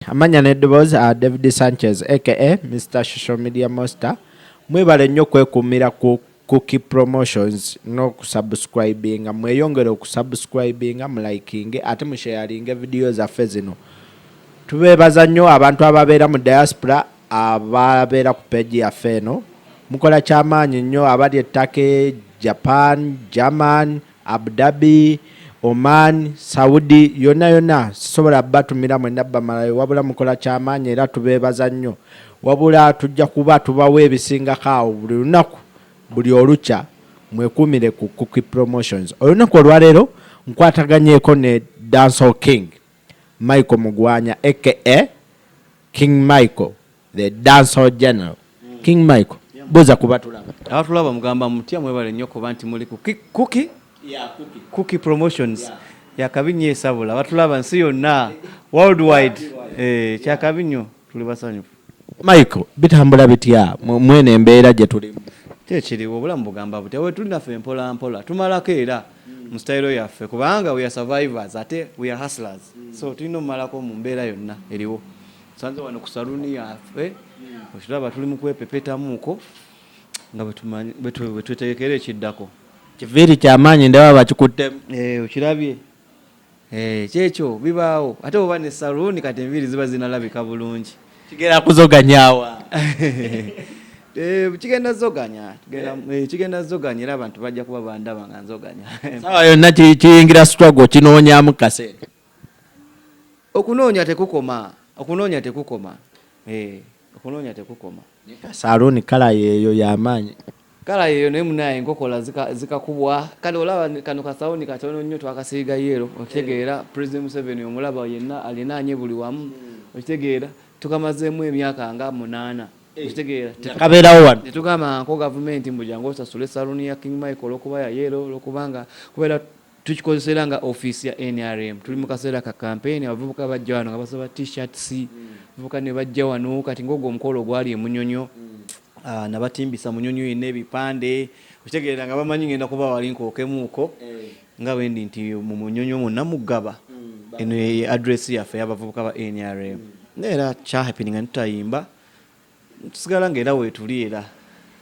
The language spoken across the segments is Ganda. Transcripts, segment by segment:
Amanya n'eddoboozi a uh, David Sanchez aka Mr Social Media Monster. Mwebale nnyo kwekuumira ku Cookie Promotions n'okusubscribinga. Mweyongere okusubscribinga, mulikinge ate musharinge vidiyo zaffe zino. Tubeebaza nnyo abantu ababeera mu diaspora ababeera ku peegi yaffe eno. Mukola kyamaanyi nnyo abali e Turkey, Japan, German, Abudhabi, Oman, Saudi yonna yonna sisobola bbatumira mwenna bamalayo wabula mukola kyamaanyi era tubeebaza nnyo wabula tujja kuba tubawa ebisingako awo buli lunaku buli olukya mwekuumire ku Kuki Promotions. Olunaku olwaleero nkwataganyeeko ne Dancehall King. Michael Mugwanya aka King Michael the dancehall general. King Michael buuza ku batulaba. Abatulaba mugamba mutya mwebale nnyo kuba nti muli ku Cookie Cookie Promotions. Yakabi nnyo esabula abatulaba nsi yonna world wide. Kyakabi nnyo tuli basanyufu. Michael bitambula bitya mwene embeera gye tulimu kyekiriwo obulamu bugamba butya wetuli naffe mpola mpola tumalako era mu style yaffe kubanga we are survivors ate we are hustlers so tulina omumalako mu mbeera yonna eriwo sanze wano ku saluni yaffe okiraba tuli mu kwepepetamuuko nga bwetutegekera ekiddako kiviiri kyamaanyi ndaba bakikuttemu eh, okirabye Eeh kyekyo bibaawo ate bwoba ne saloon kati enviiri ziba zinalabika bulungi. Kigenda kuzoganya awa. Eh, kigenda zoganya kigenda eh, kigenda zoganya era abantu bajja kuba bandaba nga nzoganya. Sawa yonna kiyingira struggle kinoonyamu kasente. Okunoonya tekukoma okunoonya tekukoma eh okunoonya tekukoma. Ka saloon kala yeeyo yamaanyi. Kala yeyo naye munaye enkokola zikakubwa zika kale olaba kano kasawuni katono nnyo twakasiiga yeero okitegeera eh. president museveni omulaba yenna alinaanye buli wamu hmm. okitegeera tukamazeemu emyaka nga munaana eh. okitegeerakabeerawo wano netugamba nko gavumenti mbu jangu osasule saluni ya king michael olwokuba ya yeero olwokubanga kubeera Tukikozesa era nga ofiisi ya nrm. Tuli mu kaseera ka kampeyini, abavubuka bajja wano nga basaba T-shirts, abavubuka ne bajja wano kati ng'ogwo omukolo ogwali e Munyonyo, nabatimbisa Munyonyo yenna ebipande, okitegeera nga bamanyi ng'enda kuba wali nkookemuuko nga bwe ndi nti mu Munyonyo mwonna mu Ggaba, eno ye address yaffe ey'abavubuka ba nrm. Naye era kyahapeninga ne tutayimba. tusigala nga era wetuli era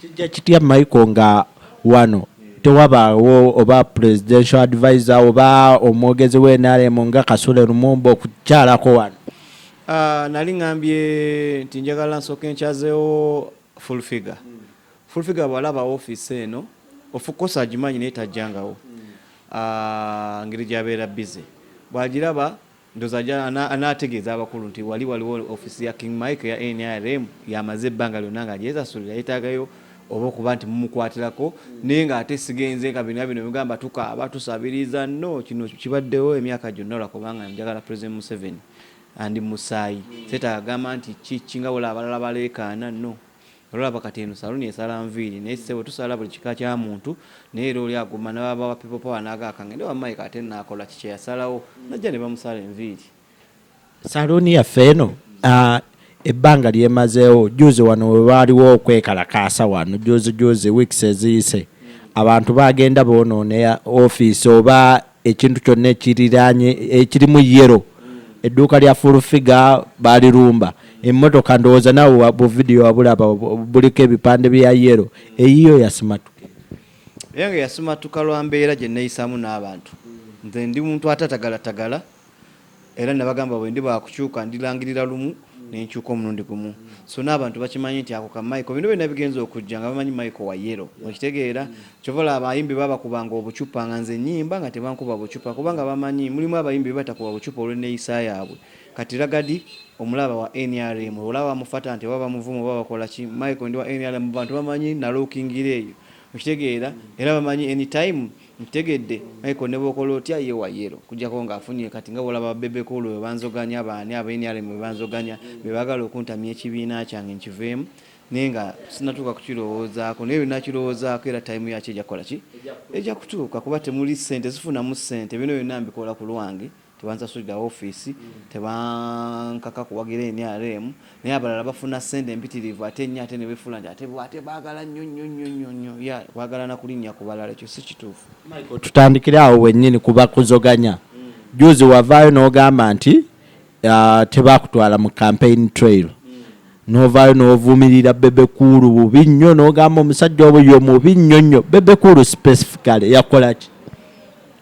kijja kitya Michael nga wano tewabaawo oba presidential advisor oba omwogezi wa NRM nga Kasule Lumumba okukyalako wano? Uh, nali ngambye nti njagala nsooka enkyazeewo full figure mm. full figure bwalaba ofiisi eno ofukosa agimanyi naye tajjangawo mm. uh, ngeri gyabeera busy bwagiraba Ndoza aja anategeeza abakulu nti wali waliwo office ya King Mike ya NRM yamaze ebbanga lyonna nga gyesasulira yetagayo oba okuba nti mumukwatirako naye nga ate sigenze nga bino bino bigamba tukaaba tusabiriza no kino kibaddewo emyaka gyonna lwakubanga njagala President Museveni andi musaayi setaagamba nti kiki nga wala abalala baleekaana no Olaba kati eno saluni esala nviiri naye ssebo tusala buli kika kya muntu naye era oli aguma nababa wa people power nagaka ngende wa Mike ate nakola ki kyeyasalawo najja ne bamusala enviiri. Saluni yaffe eno uh, ebbanga lyemazeewo juzi wano webaaliwo okwekalakaasa wano juzi juzi weeks eziyise abantu bagenda bonoona ofiisi oba ekintu kyonna ekiriraanye ekirimu yero edduuka lya full figure balirumba emmotoka ndowooza nawe bu video wabulaba buliko ebipande bya yero eyiyo yasimatuka eyange yasimatuka lwa mbeera gye neeyisaamu n'abantu nze ndi muntu atatagalatagala Era nnabagamba bwe ndiba wa kukyuka, ndirangirira lumu, ne nkyuka omulundi gumu. So, n'abantu bakimanyi nti ako ka Michael, bino byonna bigenze okujja, nga bamanyi Michael wa yero. Okitegeera? Ky'ova olaba abayimbi babakubanga obucupa nga nze nnyimba, nga tebankuba bucupa, kubanga bamanyi. Mulimu abayimbi be batakuba bucupa olw'enneeyisa yaabwe. Kati Ragadi, omulaba, wa nrm, olaba bamufata nti oba bamuvuma oba bakola ki, Michael ndi wa nrm, abantu bamanyi nnalookingira eyo. Okitegeera? Era bamanyi any time, Nkitegedde Michael nebwokola otya ye wa yellow kujako nga afunye kati nga bwolaba ba bebe cool bwebanzoganya baani aba nrm bwebanzoganya bebagala okuntamya ekibiina kyange nkiveemu naye nga sinatuuka kukilowoozaako naye lwenakilowoozaako era time yakyo ejakukolaki ejakutuuka kuba temuli sente sifunamu sente bino byonna mbikola kulwange tebansasulira ofiisi, tebankaka kuwagira nrm, naye abalala bafuna ssente mpitirivu ate ennyo ate ne befuula nti ate ate baagala nnyo nnyo nnyo nnyo nnyo ya baagala na kulinnya ku balala ekyo si kituufu. Michael tutandikire awo wennyini ku bakuzoganya. Juuzi wavaayo n'ogamba nti ah, tebaakutwala mu campaign trail novaayo novumirira bebe kuulu bubi nnyo nogamba omusajja obuyo mubi nnyo nnyo bebe kuulu specifically yakolaki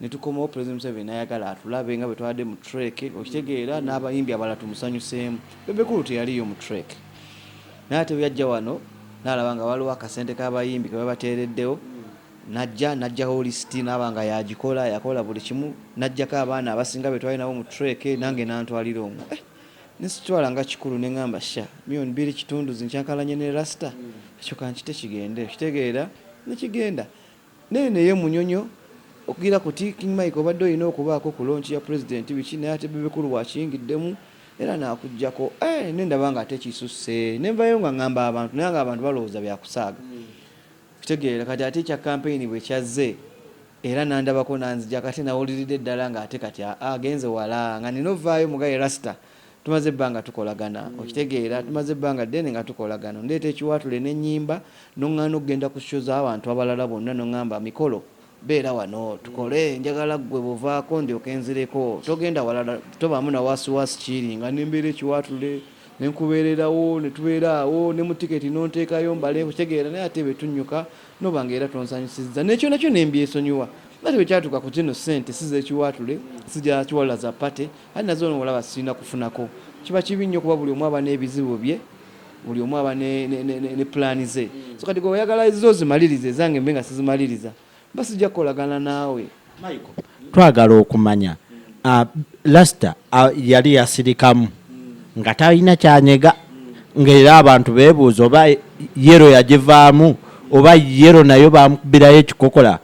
netukomawo president museveni nayagala atulabe nga bwetwabadde mu trek okitegeera n'abayimbi abalala tumusanyuseemu bebe cool teyaliyo mu trek naye ate bweyajja wano nalaba nga waliwo akasente k'abayimbi kebabateereddewo najja najjawo lisiti naaba nga yagikola yakola buli kimu najjako abaana abasinga betwali nabo mu trek nange nantwalira omu eh, nesitwala nga kikulu nengamba sha mion biri kitundu zinkyankalanye ne rasta ekyo kankite kigende okitegeera nekigenda Naye naye munyonyo okugira kuti king Mike obadde olina okubaako ku launch ya president biki naye ate bebe cool wakiyingiddemu era nakujjako eeh nendaba nga ate kisusse nenvayo nga ngamba abantu naye nga abantu balowooza byakusaaga kitegeera kati ate ekya campaign bwekyazze era nandabako nanzijako ate nawuliridde ddala nga ate kati agenze wala nga nina ovaayo mugaye rasta Tumaze ebbanga tukolagana, okitegeera, tumaze ebbanga ddene nga tukolagana. Ondeeta ekiwaatule ne nnyimba, n'oŋŋaana okugenda ku show z'abantu abalala bonna n'oŋŋamba, Mikolo, beera wano tukole, njagala ggwe bw'ovaako ndyoke nzireko, togenda walala, tobaamu na waasiwaasi kiiri nga ne mbeera ekiwaatule ne nkubeererawo ne tubeera awo ne mu tiketi n'onteekayo mbale, okitegeera, naye ate bwe tunnyuka n'oba ng'era tonsanyusizza ne kyona kyona mbyesonyiwa. Ate bwe kyatuuka ku zino ssente si z'ekiwaatule, si za kiwalula za party, Kale naze ono olaba sirina kufunako kiba kibi nnyo kuba buli omu aba n'ebizibu bye buli omu aba ne, ne, ne, ne, ne pulaani ze mm. so kati gwe oyagala ezizo zimalirize ezange mbe nga sizimaliriza mba sijja kukolagana naawe Michael twagala okumanya uh, lasta uh, yali yasirikamu nga talina kyanyega ngaera abantu bebuuza oba yero yagivaamu oba yero nayo bamukubirayo ekikokola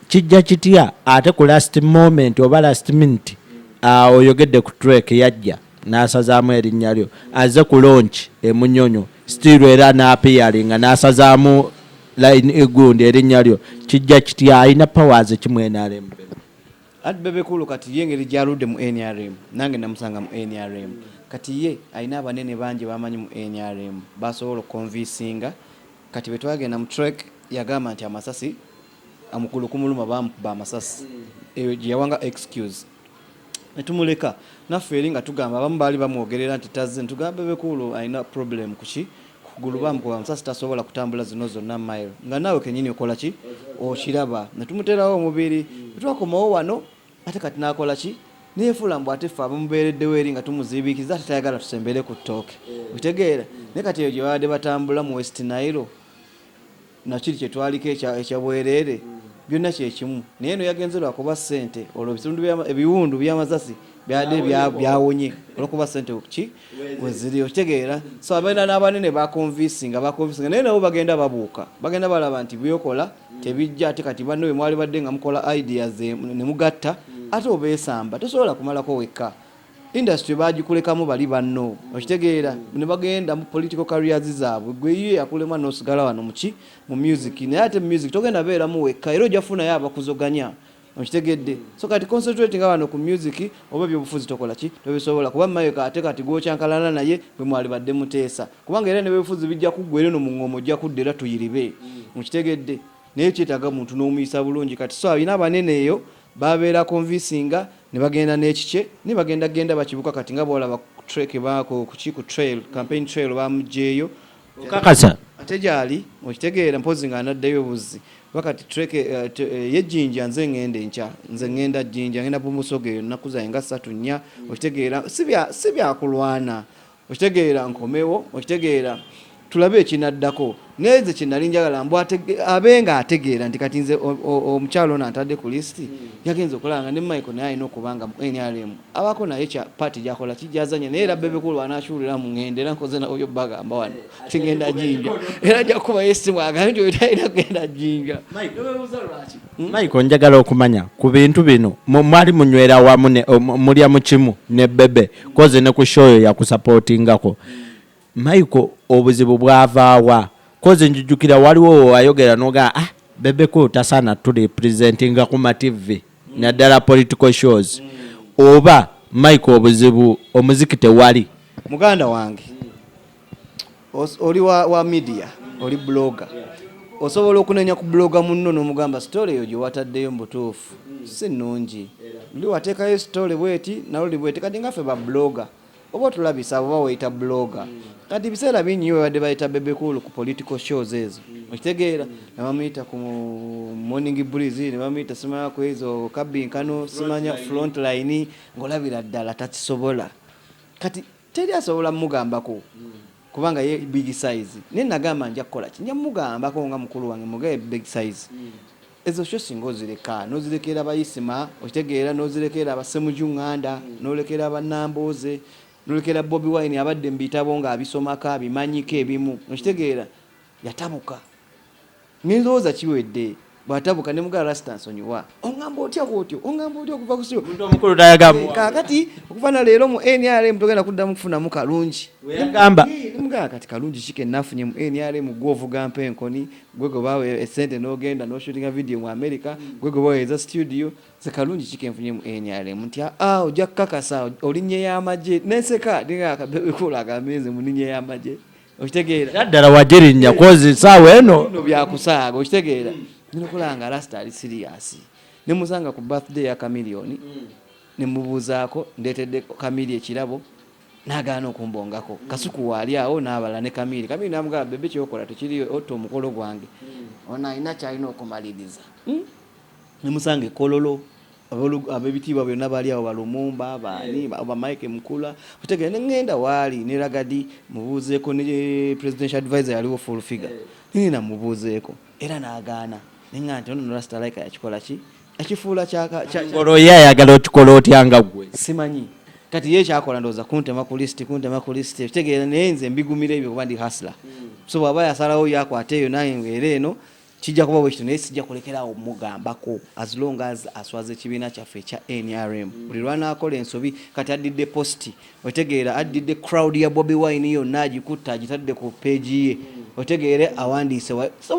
Kijja kitya ate ku last moment oba last minute uh, oyogedde ku trek yajja n'asazaamu erinnya lyo aze ku launch emunyonyo still era n'apiyaringa n'asazaamu line egundi erinnya lyo kijja kitya alina powers ki mu nrm ati bebekulu kati ye engeri gyaludde mu nrm nange namusanga mu nrm kati ye alina abanene bangi bamanyi mu nrm basobola okukonvisinga Kati bwetwagenda mu trek yagamba nti amasasi amukulu kumuluma bamukuba amasasi eyo gyeyawanga excuse netumuleka naffe eri nga tugamba abamu baali bamwogerera nti tazze netugamba bebekuulu alina problem kuki kugulu bamukuba amasasi tasobola kutambula zino zonna mile nga naawe kenyini okolaki okiraba netumuterawo omubiri bwetwakomawo wano Ate kati nakola ki? Neyefuula mbu ate ffe abamubeereddewo eri nga tumuziibiikiriza ate tayagala tusembere ku ttooke. Okitegeera? Naye kati eyo gye babadde batambula mu West Nile na kiri kye twaliko ekya, ekya bwereere, byonna kye kimu. Naye eno yagenze lwa kuba ssente, olwo ebitundu bya, ebiwundu by'amasasi byabadde bya, byawonye olw'okuba ssente. Ki? weziri okitegeera so abeera n'abanene bakonvisinga bakonvisinga naye nabo bagenda babuuka bagenda balaba nti byokola tebijja ate kati banne bwe mwali badde nga mukola ideas ne mugatta ate obeesamba tosobola kumalako wekka industry bagikulekamu bali banno okitegeera ne bagenda mu political careers zaabwe gwe ye yakulema n'osigala wano muki mu music naye ate music togenda beeramu wekka era ojja funayo abakuzoganya okitegedde so kati concentrate nga wano ku music oba ebyobufuzi tokola ki tobisobola kuba mayeka ate kati gwokyankalana naye gwe mwali badde muteesa kubanga era nebyobufuzi bijja kuggwa era no mu ngoma ojja kudda era tuyiribe mukitegedde mm. naye kyetaaga muntu n'omuyisa bulungi kati so alina abanene eyo babeera convincinga ne bagenda n'ekikye ne bagenda genda bakibuka kati nga bwolaba trek baako kuki ku trail campaign trail bamugyeyo okakasa ate gyali okitegeera mpozi nga anaddeyo buzzi wakati treke eh, eh, ye jinja nze ngenda enkya nze ngenda jinja ngenda bumusoga eyo nnaku zange nga satu nnya okitegeera si byakulwana okitegeera nkomewo okitegeera tulabe ekinaddako naye nze kyenali njagala mbu abe nga ategeera nti kati nze omukyalo ono antadde ku lisiti yagenza okulaba nga ne michael naye alina okuba nga nrm abako naye kya party jakola kijazanya naye era bebe kulu anachulira mu ngende era nkoze na oyo baga amba wano tingenda jinja era jakuba yesi mwaga ndio itaira genda jinja mike wewe uzalwachi hmm? mike onjagala okumanya ku bintu bino mwali munywera wamu ne mulya mu kimu ne bebe koze ne ku show ya ku supportingako Michael obuzibu bwavaawa kozi njijukira waliwo wewayogera nogaa ah, bebekulu tasaana turepresentinga ku mativvi mm. naddala political shows mm. oba mike obuzibu omuziki tewali muganda wange oli wa, wa media oli blogger osobola okunenya ku bloga munno nomugamba sitole eyo gyewataddeyo mubutuufu si nungi luli wateekayo sitole bweti naluli bweti kati ngaffe ba bloga Oba otulabisa oba weyita blogger. Kati biseera bingi nyo babadde bayita Bebe Cool ku political shows ezo. Okitegeera? Ne bamuyita ku Morning Breeze, ne bamuyita simanya ku ezo kabbinkano, simanya front line, ng'olabira ddala takisobola. Kati teri asobola mugambako kubanga ye big size. Naye nagamba nja kukola ki? Nja mugambako nga mukulu wange mugabe big size. Ezo show singa ozireka nozirekeera ba Isma okitegeera nozirekeera ba Ssemuju Nganda nolekeera ba Nambooze nolekeera Bobi Wine abadde mu bitabo nga abisomako abimanyiko ebimu okitegeera yatabuka nendowooza kiwedde bwatabuka ne mugala Rasta nsonyiwa ongamba otya bwotyo ongamba otya okuva kusiyo omuntu omukulu tayagamu kakati okuva na leero mu NRM togenda kuddamu kufunamu kalungi weyagamba mugala kati kalungi kike nafunye mu NRM gwovuga mpenkoni Gwe gwe bawa esente nogenda no shootinga video mu America, gwe gwe bawa eza studio, ze kalungi ki kenfunye mu NRM nti aa ah, ah, oja kakasa olinye ya maje neseka dinga akabebe kula akameze muninye ya maje okitegeera naddala wagirinya kozi saawa eno no byakusaaga okitegeera ninokulanga rasta ali siriyasi nemusanga ku birthday ya kamiliyoni nemubuuzaako ndeetedde kamili ekirabo n'agaana okumbongako kasuku waali awo n'abalala ne kamiiri kamiiri n'amugamba bebe kyokola tekiriyo otta omukolo gwange hmm. ono alina kyalina okumaliriza hmm? nemusanga ekololo abebitiibwa byonna bali awo balumumba baani eh. bamike mukula otegere neŋŋenda waali ne ragadi mubuuzeeko ne presidential advisor yaliwo full figure eh. nina mubuuzeeko era n'agaana neŋa nti ono norasita laika yakikola ki ekifuula kyangolo ye ayagala okikola otya nga gwe simanyi kati ye kyakola ndowooza kuntema ku lisiti kuntema ku lisiti ekitegeera naye nze mbigumira ebyo kuba ndi hasla hmm. so bwaba yasalawo yakwata eyo naye era eno kijja kuba bwekito naye sijja kulekerawo mugambako as long as aswaza ekibiina kyaffe ekya nrm hmm. buli lwanakola ensobi kati addidde positi otegeera addidde crowd ya bobi wine yonna agikutte agitadde ku peegi ye otegeere awandiise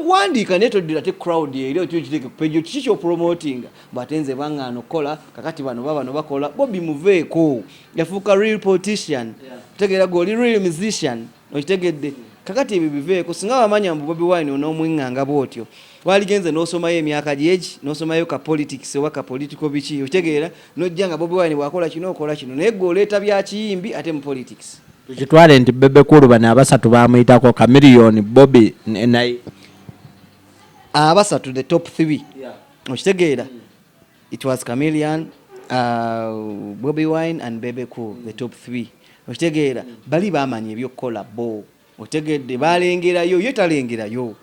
wandiika naye toddira te crowd eri otyo kiteke kupeeji kiki kyopromotinga bwate nze bangaano okukola kakati bano ba bano bakola bobi muveeko yafuuka real politician otegeera gwe oli real musician okitegedde kakati ebyo biveeko singa wamanya mbu bobi wine onoomwinganga bwotyo waligenze n'osomayo emyaka gyegi n'osomayo ka politics oba ka political biki okitegeera n'ojja nga bobi wine bwakola kino okola kino naye gwe oleeta bya kiyimbi ate mu politics tukitwale nti bebe kulu bano abasatu bamuyitako kamiliyoni bobi naye abasatu the top three yeah. okitegeera mm. it was camilian uh, bobi wine and bebe cool mm. the top three okitegeera mm. bali bamanya ebyokukola bo otegedde balengerayo ye talengerayo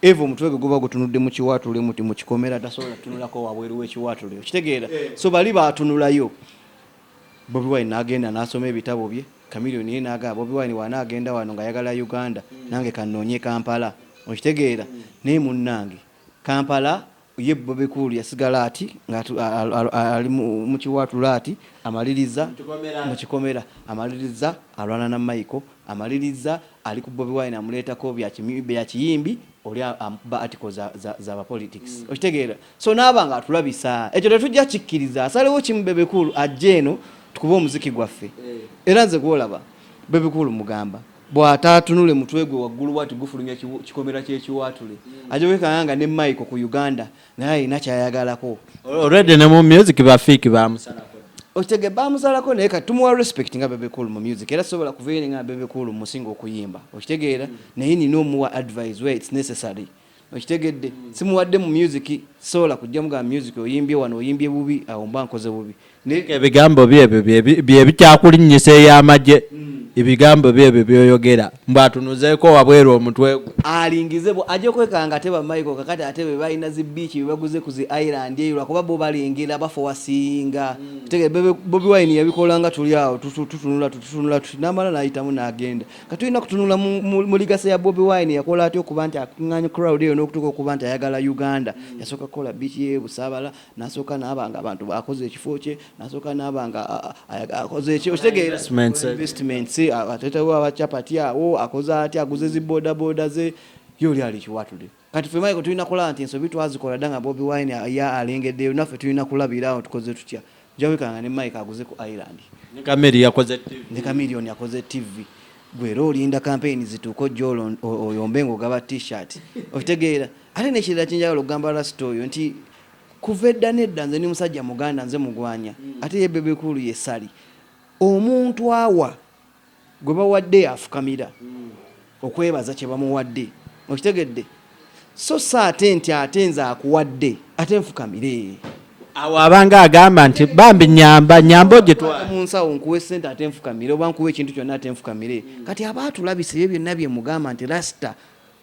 Eva omutwe gwe guba gutunudde mu kiwaatule muti mu kikomera tasobola kutunulako wabweru w'ekiwaatule okitegeera eh. so bali baatunulayo Bobi Wine n'agenda n'asoma ebitabo bye Chameleon ye n'agamba Bobi Wine waana agenda wano ng'ayagala Uganda hmm. nange kannoonye Kampala okitegeera hmm. naye munnange Kampala Ye Bebe Cool yasigala ati nga ali mu kiwaatula ati amaliriza mu kikomera, amaliriza alwana na Michael, amaliriza ali ku Bobi Wine amuleetako bya kiyimbi oli amukuba article za ba politics. Mm. Okitegeera? So naaba nga atulabisa. Ekyo tetujja kikkiriza. Asalewo kimu Bebe Cool ajje eno tukube omuziki gwaffe. Eh. Era nze gwolaba Bebe Cool mugamba. bw'ataatunule mutwe gwe waggulu bw'ati gufulumya kikomera ky'ekiwaatule mm. ajja kwekanga nga ne Michael ku Uganda naye alina kyayagalako already ne mu music ba fake baamusalako okitege baamusalako naye kati tumuwa respect nga Bebe Cool mu music era sobola kuvayo nga Bebe Cool musinga okuyimba okitegeera mm. naye nina omuwa advise where it's necessary okitegedde simuwadde mu music sola kujja muga music oyimbye wano oyimbye bubi awo mba nkoze bubi ebigambo byebyo byebikyakulinnyisa ey'amagye hmm. ebigambo byebyo byoyogera mbu atunuzeeko wabweru omutwe gwe alingize bwe ajja okwekanga ate bamaiko kakati ate be balina zi biiki bebaguze ku zi island eyo lwakuba bo balengera bafowasinga hmm. tegere bobi wine yabikolanga tuli awo tutunula tutunula tuti namala nayitamu nagenda katulina kutunula mu ligase ya Bobi Wine yakola atya okuba nti akunganya crowd eyo n'okutuuka okuba nti ayagala Uganda mm. yasooka kukola biiki ye Busaabala nasooka naaba nga abantu baakoze ekifo kye nasooka naaba nga akoze eki okitegeera investments atetewo abacapati awo akoze atya aguze zi bodaboda ze ye oli ali kiwatule Kati ffe Michael tulina kulaba nti ensobi twazikola dda nga Bobi Wine ya alengeddeyo naffe tulina kulabira awo tukoze tutya jawika nga ne Mike aguze ku Island ne Kameri yakoze TV ne Kamerion yakoze TV gwera olinda kampeyini zituuka ojja oyombe ngaogaba t-shirt okitegeera ate nekirala kyenjagala okugamba rasita oyo nti kuva edda nedda nze ni musajja muganda nze mugwanya ate ye bebekulu yesali omuntu awa gwe bawadde yafukamira okwebaza kye bamuwadde okitegedde so si ate nti ate nze akuwadde ate nfukamire awo abanga agamba nti bambi nyamba nyamba ogyetwala mu nsawo nkuwa essente ate nfukamire oba nkuwa ekintu kyonna ate nfukamire kati aba atulabisa ebyo byonna bye mugamba nti lasita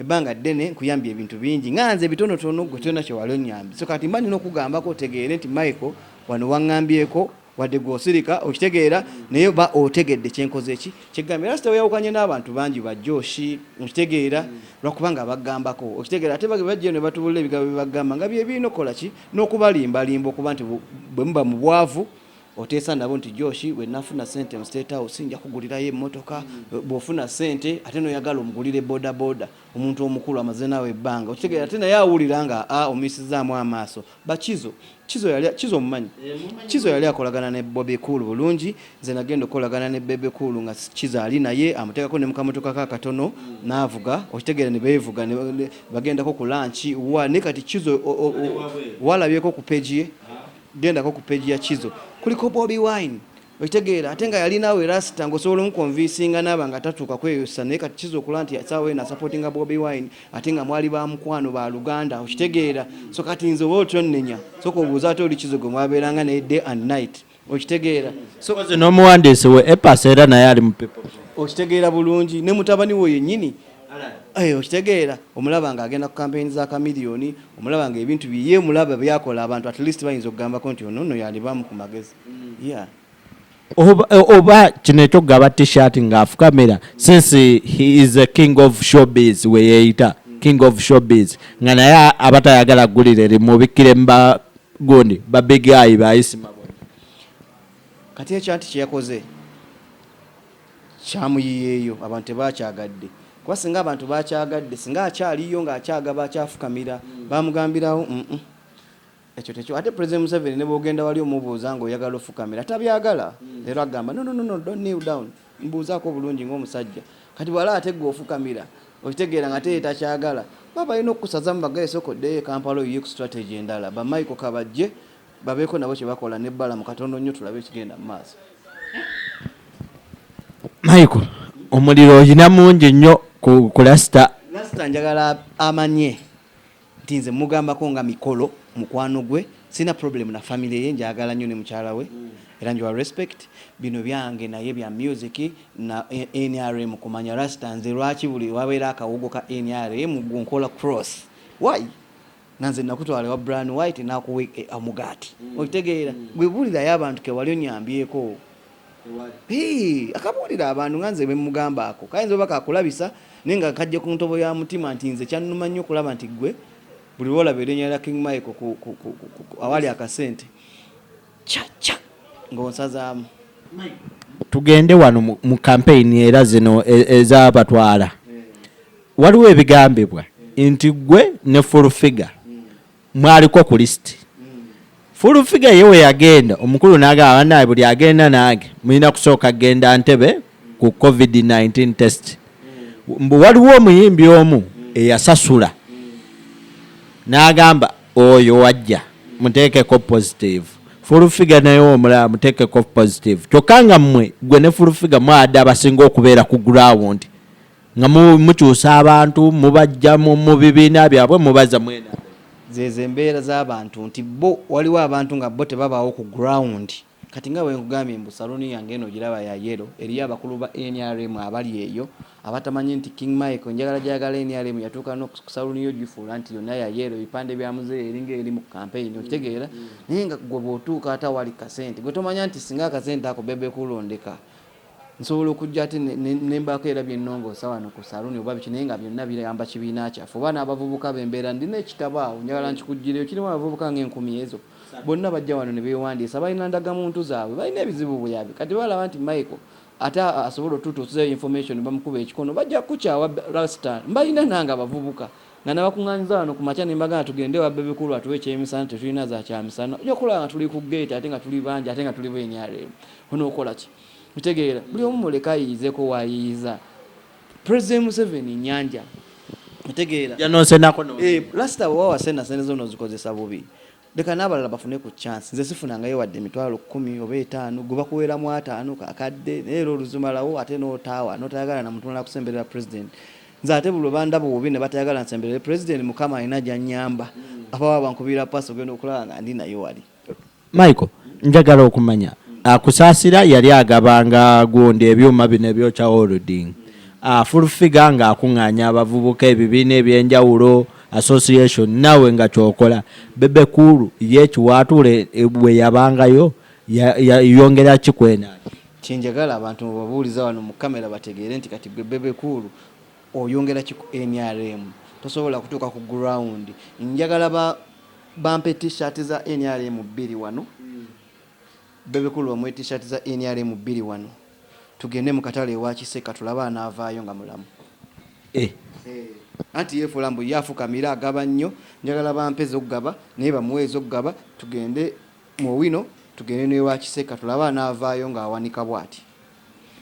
ebbanga ddene nkuyambye ebintu bingi nga nze ebitonotono gwe tolina kyewali onyambye so kati mba nina okugambako otegeere nti michael wano waŋŋambyeko wadde gwe osirika okitegeera naye oba otegedde kyenkoze ki kyegambye era sitaweyawukanye n'abantu bangi bajooshi okitegeera lwakubanga abagambako okitegeera ate bajjeyo ne batubulira ebigambo bye bagamba nga bye birina okukola ki n'okubalimbalimba okuba nti bwe muba mu bwavu Oteesa nabo nti Josh bwenafuna sente mu state house nja kugulirayo emotoka, bwofuna sente ate noyagala omugulire boda boda omuntu omukulu amaze naawe ebbanga okitegera ate naye awulira nga a omuyisizaamu amaaso. Bakizo kizo yali kizo omumanyi kizo yali akolagana ne bobi cool bulungi nze nagenda okukolagana ne bebe cool nga kizo ali naye amutekako ne mukamotoka ka katono naavuga okitegera nebevuga bagendako ku lunch wa ne kati kizo walabyeko ku page ye Gendako ku page ya Kizo kuliko Bobi Wine okitegeera ate nga yali naawe rasita ngaosobola omukonvinsinga naaba nga tatuuka kweyosa naye kati kiza okulaba nti saawa eno asapotinga bobi wine ate nga mwali ba mukwano ba luganda okitegeera so kati nze oba otyonnenya soka obuuza ate oli kizo gwe mwabeeranga naye day and night okitegeera sonomuwandiisi we epasa era naye ali mu people okitegeera bulungi ne mutabani wo yennyini Eh, okitegeera omulaba nga agenda ku kampeyini za kamiliyoni omulaba nga ebintu biye mulaba byakola abantu at least bayinza okugambako nti ono no yalibamu ku magezi mm. yeah. oba, eh, oba kino ekyokugaba tshirt ngaafukamira since he is a king of showbiz weyeyita mm. king of showbiz nga naye abatayagala gulire limubikkire muba gundi babigayi bayisima kati ekyanti kyeyakoze kyamuyiyeeyo abantu tebakyagadde kuba singa abantu bakyagadde singa akyaliyo nga akyagaba akyafukamira bamugambirawo mm ekyo tekyo ate president museveni ne bwogenda wali omubuuza nga oyagala ofukamira tabyagala leero agamba no no no no don't kneel down mbuuzaako obulungi ng'omusajja kati bwala ate gwe ofukamira okitegeera nga teye takyagala ba balina okukusazamu bagaye sooka oddeyo ekampala oyiye ku strategy endala bamaiko kabajje babeeko nabo kyebakola ne balamu katono nnyo tulabe ekigenda mu maaso michael omuliro oyina mungi nnyo ku lasita lasita njagala amanye nti nze mugambako nga mikolo mukwano gwe sina problem na family ye njagala nnyo ne mukyala we era njiwa respect bino byange naye bya music na nrm kumanya rasta nze lwaki buli wabeera akawogo ka nrm gunkola cross why nga nze nakutwala ewa bran white nakuwa e, omugaati mm. okitegeera mm. gwe buulirayo abantu kewali onyambyeko akabuulira abantu nga nze bemugamba ako kayinza oba kakulabisa naye nga kajja ku ntobo ya mutima nti nze kyannuma nnyo okulaba nti gwe buli lwolaba erinya lya king michael awali akasente caca ng'onsazaamu tugende wano mu kampeyini era zino e, ezabatwala waliwo ebigambibwa nti gwe ne fulfiga mwaliko ku lisiti fulfiga ye we yagenda omukulu nagamba banaye buli agenda nange mulina kusooka genda ntebe ku covid-19 test mbu waliwo omuyimbi omu eyasasula nagamba Oyo wajja muteekeko positive fulufiga naye omulala muteekeko positive kyokka nga mmwe gwe ne fulufiga mwada abasinga okubeera ku gurawundi nga mukyusa abantu mubajja mu bibiina byabwe mubaza mwena zezo embeera z'abantu nti bo waliwo abantu nga bo tebabaawo ku gurawundi Kati nga bwenkugambye mbu salon yange eno ogiraba ya yellow eriyo abakulu ba nrm abali eyo abatamanyi nti king Michael njagala jayagala nrm yatuuka no ku salon yo ogifuula nti yonna ya yellow ebipande bya muzeeyi eringa eri mu campaign okitegeera naye nga gwe bwotuuka ate awali kasente gwe tomanya nti singa akasente ako bebe cool ondeka nsobola okujja ate nembaako era byenongoosa wano ku saluuni oba biki naye nga byonna biramba kibiina kyaffe oba n'abavubuka bembeera ndina ekitabo awo njagala nkikuggiriyo kirimu abavubuka ng'enkumi ezo bonna bajja wano ne beewandiisa balina ndagamuntu zaabwe balina ebizibu buyaabi kati balaba nti michael ate asobola otutuusizayo information bamukuba ekikono bajja kukukyawa rastan mbalina nange abavubuka nga nabakunganyiza wano kumakya nembagana tugende ewa bebe cool atuwe ekyemisana tetulina za kyamisana oja kulaba nga tuli ku gate ate nga tuli bangi ate nga tuli bu nrm onokolaki otegeera buli omu muleke ayiyizeko wayiyiza president museveni nyanja otegeera eh, lasita wewawasena sente zona ozikozesa bubi Leka n'abalala bafune ku chance. Nze sifunangayo wadde emitwalo kkumi oba etaano, ggwe bakuweeramu ataano, kakadde, naye era oluzimalawo ate n'otaawa, n'otayagala na muntu mulala kusemberera President. Nze ate buli lwe bandaba obubi ne batayagala nsemberere President, Mukama alina gy'annyamba. Abawa bankubira pass ogenda okulaba nga ndi naye wali. Michael, njagala okumanya, ah, Kusaasira yali agaba nga gundi ebyuma bino ebyokya holding, ah, Full Figure ng'akung'aanya abavubuka, ebibiina eby'enjawulo, association nawe nga kyokola bebe cool ye kiwatule eh, bwe yabangayo ya- ya- yongera kikwena kyenjagala abantu mubabuuliza wano mu kamera bategeere nti kati gwe bebe kuulu oyongera ki ku nrm tosobola kutuuka ku ground njagala ba- bampe t-shirt za nrm bbiri wano Bebe cool bamuwe t-shirt za nrm bbiri wano tugende mu katale ewa kisekka tulabe anaavaayo nga mulamu. Eeh. Anti yefuula mbu ye afukamira agaba nnyo njagala bampe zokugaba naye bamuwe ezokugaba tugende mu owino tugende newa kisekka tulabe anaavaayo nga awanika bwati.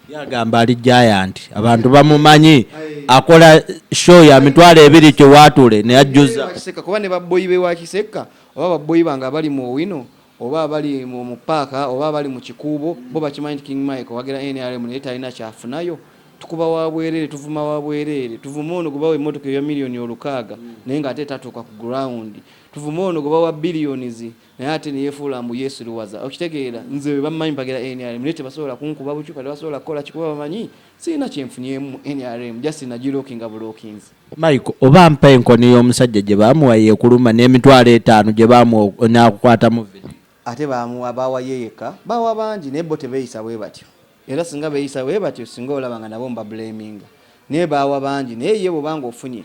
Ye agamba ali giant abantu bamumanyi akola show ya mitwalo ebiri kiwaatule ne ajjuza. Ewa kisekka kuba ne ba bboyi bewa kisekka oba ba bboyi bange abali mu owino oba abali mu mu paaka oba abali mu kikuubo bo bakimanyi nti King Michael wagira nrm naye talina kyafunayo. Tukuba wa bwereere, tuvuma wa bwereere. Tuvuma ono gwe bawa emmotoka eya million olukaaga naye nga ate tatuuka ku ground. Tuvuma ono gwe bawa billions naye ate ne yefuula mbu yesiruwaza. Okitegeera? Nze be bammanyi bagira nrm naye tebasobola kunkuba bucupa, tebasobola kukola ki kuba bamanyi sirina kyenfunyemu mu nrm just nagilockinga bulockinzi. Michael oba mpa enkoni y'omusajja gye baamuwa yeekuluma n'emitwalo etaano gye baamuwa n'akukwatamu vidiyo. Ate baamuwa baawa ye yekka? Baawa bangi naye bo tebeeyisa bwe batyo. Era singa beeyisa bwe batyo singa olaba nga nabo mbabuleeminga. Naye baawa bangi naye ye bw'oba ng'ofunye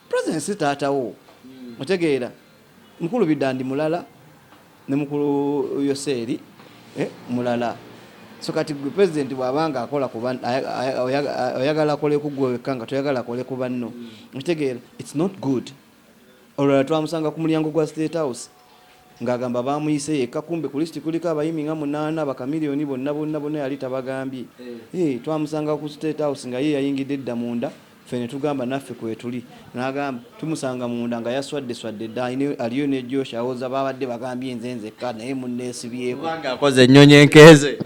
presence taata wo otegeera. Mukulu Bidandi mulala ne mukulu Yoseeri eh, mulala. So kati gwe president bwaba nga akola ku banno oyagala akole ku gwe wekka nga toyagala akole ku banno okitegeera it's not good. Olulala twamusanga ku mulyango gwa state house ng'agamba baamuyise yekka kumbe ku lisiti kuliko abayimi nga munaana bakamiliyoni bonna bonna bonna yali tabagambye eh. Eh, twamusanga ku state house nga ye yayingidde edda munda ffe ne tugamba naffe kwetuli nagamba tumusanga munda nga yaswadde swadde dda aliyo ne josh awoza babadde bagambye nze nzekka naye munneesibyekoanga akoze ennyonyi enkeeze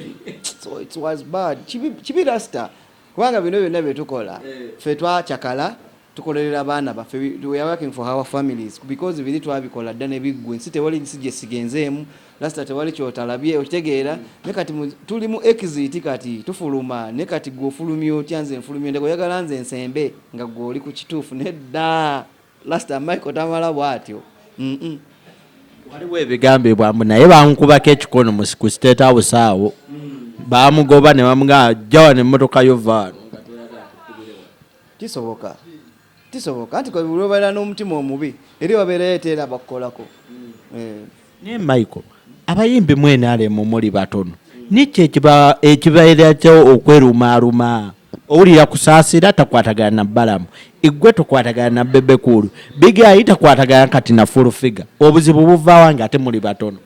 kibi rasta kubanga bino byonna byetukola eh. ffe twacakala tukolerera abaana baffe we are working for our families because biri twabikola dda nebiggwa ensi tewali nsi gyesigenzeemu lasita tewali kyotalabye okitegeera ne kati tuli mu exit kati tufuluma ne kati gwe ofulumya otya nze nfulumya ndeka oyagala nze nsembe nga gwe oli ku kituufu nedda lasita michael tamala bwatyo waliwo ebigambibwa mbu naye bankubako ekikono ku state house awo bamugoba ne bamugaa jawa ne mmotoka yo vaano kisoboka Kisoboka anti lwobeera n'omutima omubi eri wabeerayo eteera abakukolako. Eh. Naye Michael, abayimbi mu NRM muli batono nikyo ekibaera kyo okwerumaaluma owulira kusaasira takwatagana na balamu igwe tokwatagana na bebe kuulu bigayi takwatagana kati na full figure obuzibu buvaawa nga ate muli batono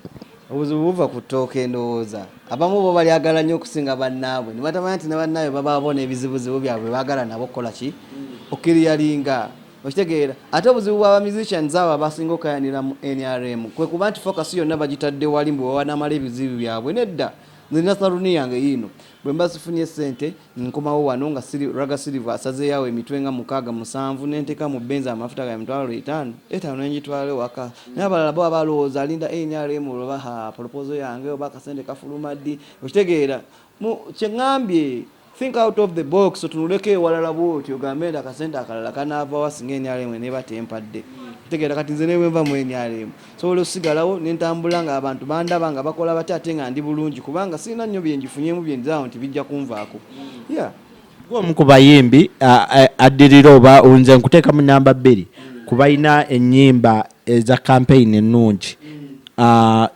Obuzibu buva ku ttooke ndowooza. Abamu bo balyagala nnyo okusinga bannaabwe ne batamanya nti ne bannaabwe babaabo n'ebizibuzibu byabwe bye baagala nabo okukola ki okiriyalinga okitegeera ate obuzibu bwa ba musicians abo abasinga okukayanira mu nrm kwe kuba nti focus yonna bagitadde wali mbu bwe banaamala ebizibu byabwe nedda nze nina saluuni yange yiino bwe mba sifunye ssente Nkomawo wano nga Raga Silver asazeeyo awo emitwe nga mukaaga musanvu ne nteeka mu benzi amafuta ga emitwalo etaano etaano ne ngitwala ewaka. Naye abalala bo baba balowooza alinda nrm olwo oba ha polopozo yange oba akasente kafuluma ddi? Okitegeera? Mu kye ŋŋambye think out of the box otunuleko ewalala bw'otyo ogambe nti akasente akalala kanaava wa singa nrm eneeba tempadde? Okitegeera? Kati nze ne bwe nva mu nrm. nsobola osigalawo nentambula nga abantu bandaba nga bakola batya ate nga ndi bulungi kubanga sirina nnyo byenjifunyemu byenzaawo nti bijja kunvaako yeah. gwomu ku bayimbi addirira oba nze nkuteeka mu namba bbiri ku balina ennyimba eza kampeyini ennungi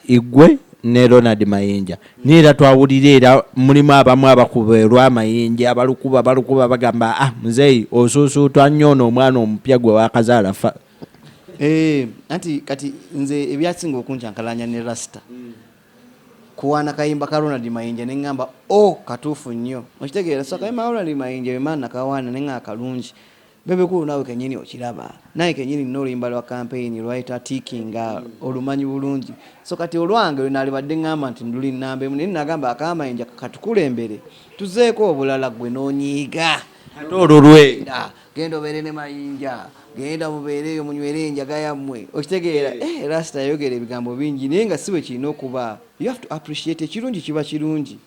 igwe ne ronald mayinja naye era twawulira era mulimu abamu abakuba olwamayinja abalukuba balukuba bagamba ah muzeeyi osuusuutwa nnyo ono omwana omupya gwe wakazaala Eh, anti kati nze ebyasinga okuncankalanya ne rasta mm. kuwaana kayimba ka ronald mayinja ne ŋŋamba o oh, katuufu nnyo okitegeera so akayimba ka ronald mayinja wemaana kawaana ne ŋa akalungi bebekulu naawe kenyini okiraba naye kenyini nina oluyimba lwa kampeyini lwayita tikinga mm. olumanyi bulungi so kati olwange lwenalibadde ŋŋamba nti nduli nnamba emu naye nagamba akamayinja katukulembere tuzeeko obulala gwe nonyiiga ate olulwenda genda obeere ne mayinja genda mubeere eyo munywere enjaga yammwe okitegeera eh. eh, rasita yayogera ebigambo bingi naye nga si bwe kirina okuba you have to appreciate ekirungi kiba kirungi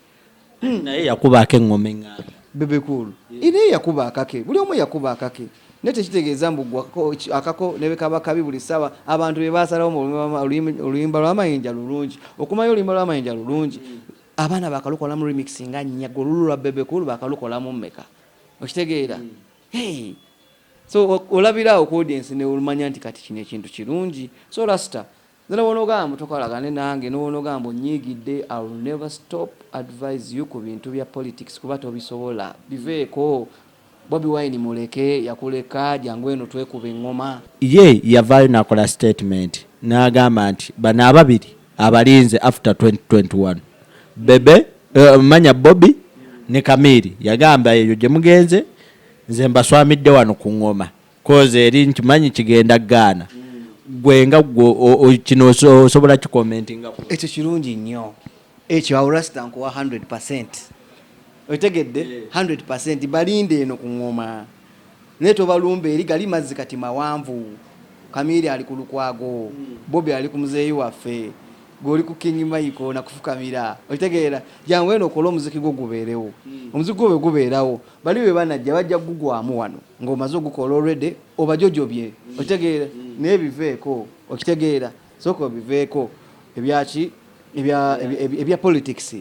hmm. naye yakubaako eŋŋoma eŋŋanda bebekulu naye yakuba akake buli omu yakuba akake naye tekitegeeza mbu akako nebekaba kabi buli ssaawa abantu be basalawo mu oluyimba lwamayinja lulungi okumayo oluyimba lwamayinja lulungi hmm. abaana bakalukolamu remix nga nnyago olulu lwa bebekulu bakalukolamu mmeka okitegeera hey. so olabira awo ku audience neolumanya nti kati kino ekintu kirungi so rasta nze nobonogamba mutokolagane nange nobonogamba onyiigidde i will never stop advise you ku bintu bya politics kuba tobisobola biveeko bobi wine muleke yakuleka jangu eno twekuba eŋŋoma ye yavaayo nakola statement n'agamba nti bano ababiri abalinze after 2021 bebe uh, manya bobi ne kamiri yagamba eyo gyemugenze nze mbaswamidde wano ku ngoma koze eri nkimanyi kigenda gaana gwe nga kino osobola kikomentinga ekyo kirungi nnyo ekyo aurasta nkuwa 100 okitegedde 100 balinde eno ku ngoma Naye tobalumba eri gali mazzi kati mawanvu. Kamiiri ali ku Lukwago, Bobi ali ku muzeeyi waffe, gwe oli ku King Michael na kufukamira. Okitegeera? Jangu eno okole omuziki gwo gubeerewo. Omuziki gwo bwe gubeerawo, bali bwe banajja bajja kugugwamu wano ng'omaze ogukola already obajojobye. Okitegeera? Naye biveeko. Okitegeera? Sooka obiveeko. Ebya ki? Ebya, ebya politics.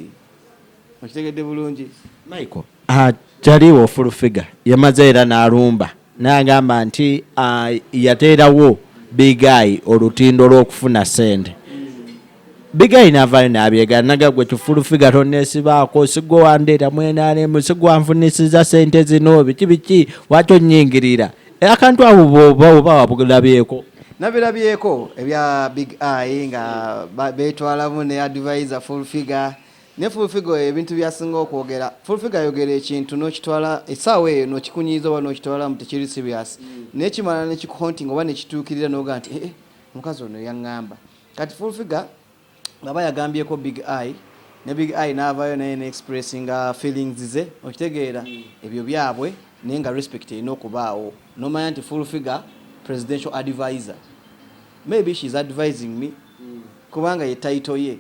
okitegedde bulungi michael ah, taliwo full figure yamaze era n'alumba naye agamba nti ah, yateerawo bigayi olutindo lw'okufuna sente bigayi n'avaayo n'abyegala naga gwe kifulu figa tonneesibaako sigwe wandeeta mwenaalemu sigwe anfunisiza sente zino biki biki lwaki onnyingirira akantu abo boba oba wabulabyeko nabirabyeko ebya big eye nga betwalamu ne advisor full figure ne full figure ebintu byasinga okwogera full figure ayogera ekintu nokitwala esaawa eyo nokikunyiiza oba nokitwalamu tekiri serious mm. nekimala nekikuhontinga oba nekituukirira noga nti ee eh, eh, omukazi ono yaŋŋamba kati full figure Baba yagambyeko big eye ne big eye navayo naye ne expressinga feelings ze okitegeera ebyo byabwe naye nga respect erina okubaawo nomanya nti full figure presidential adviser maybe she is advising me kubanga ye title ye